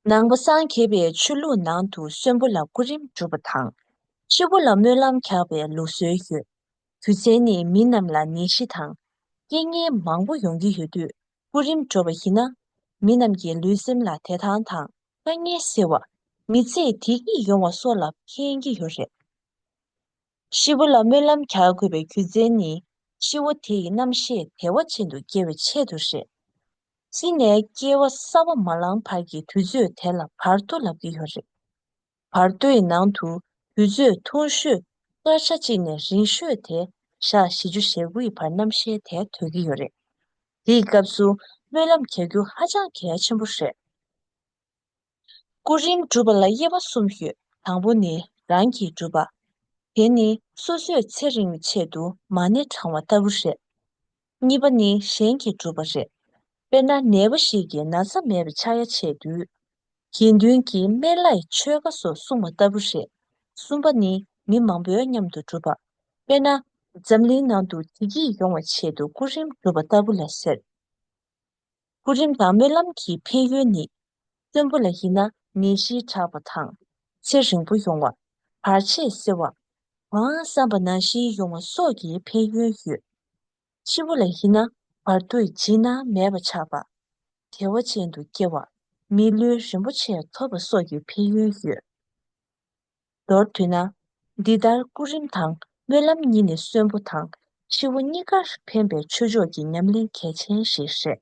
ནང་པ་སངས་རྒྱས་པའི་ཆོས་ལུགས་ནང་དུ་གསོན་པོ་ལ་སྐུ་རིམ་སྒྲུབ་པ་དང། ཤི་བོ་ལ་སྨོན་ལམ་རྒྱག་པའི་ལུགས་སྲོལ་ཡོད། དུས་མཚན་ནི་མི་རྣམས་ལ་ནད་གཞི་དང། རྐྱེན་ངན་མང་པོ་ཡོང་གི་ཡོད་དུས་སྐུ་རིམ་འགྲོ་བ་ཡིན་ན། མི་རྣམས་ཀྱི་ལུས་སེམས་ལ་དད་ཐང་དང། དཀའ་ངལ་སེལ་བ། མི་ཚེ་བདེ་སྐྱིད་ཡོང་བ་སོགས་ལ་ཕན་གྱི་ཡོད་རེད། ཤི་བོ་ལ་སྨོན་ལམ་གྱ་དགོས་པའི་རྒྱུ་མཚན་ནི་ཤི་བོ་དེ་ཡི་རྣམ་ཤེས་དལ་བ་ཅན་དུ་སྐྱེ་བའི་ཆེད་དུ་རེད། ཤི་ནས་སྐྱེ་བ་གསར་བ་མ་ལང་བར་གྱི་དུས་ཚོད་དེ་ལ་བར་དོ་ལབ་ཀྱི་ཡོད་རེད། བར་དོའི་ནང་དུ་དུས་ཚོད་ཐུང་ཤོས་སྐར་ཆ་གཅིག་ནས་རིང་ཤོས་དེ་ཞག་བཞི་བཅུ་ཞེ་དགུ་ཡི་བར་རྣམ་ཤེས་དལ་དོད་ཀྱི་ཡོད་རེད། དེའི་སྐབས་སུ་སྨོན་ལམ་གྱ་རྒྱུ་ཧ་ཅང་གལ་ཆེན་པོ་རེད། སྐུ་རིམ་སྒྲུབ་པ་ལ་དབྱེ་བ་གསུམ་ཡོད་དང་པོ་ནི་རང་གིས་སྒྲུབ་པ། དེ་ནི་སོ་སོས་ཚེ་རིང་བའི་ཆེད་དུ་མ་ཎི་བགྲང་བ་ལྟ་བུ་རེད། གཉིས་པ་ནི་གཞན་གྱིས་སྒྲུབ་པ་རེད། དཔེར་ན་ནད་པ་ཞིག་གིས་ན་ཚ་མེད་པའི་ཕྱག་ཡ་བྱས་དུས། དགེ་འདུན་གྱིས་སྨན་བླའི་ཆོས་བཀའ་སོགས་གསུང་བ་ལྟ་བུ་རེད། གསུམ་པ་ནི་མི་མང་པོའི་མཉམ་དུ་སྒྲུབ་པ། དཔེར་ན་འཛམ་གླིང་ནང་དུ་བདེ་སྐྱིད་ཡོང་བའི་ཆེད་དུ་སྐུ་རིམ་སྒྲུབ་པ་ལྟ་བུ་ལ་ཟེར། སྐུ་རིམ་དང་སྨོན་ལམ་གྱི་ཕན་ཡོན་ནི། བཙུན་པོ་ལ་ཡིན་ན་ནད་གཞིའི་དྲག་པ་དང། ཚེ་རིང་པོ་ཡོང་བ། བར་ཆད་སེལ་བ། གང་བསམ་པ་ནང་བཞིན་ཡོང་བ་སོགས་ཀྱི་ཕན་ཡོན་ཡོད། ཕྱི་པོ་ལ་ཡིན་ན་བར་དུ་འཇིགས་སྣང་མེད་པ་ཆགས་པ། བདེ་བ་ཅན་དུ་སྐྱེ་བ། མི་ལུས་རིན་པོ་ཆེ་ཐོབ་པ་སོགས་ཀྱི་ཕན་ཡོན་ཡོད། མདོར་བསྡུས་ན། འདི་ལྟར་སྐུ་རིམ་དང་སྨོན་ལམ་གཉིས་ནི་གསོན་པོ་དང་འཆི་བོ་གཉིས་ཀར་ཕན་པའི་ཆོས་ཕྱོགས་ཀྱི་ཉམས་ལེན་གལ་ཆེན་ཞིག་རེད།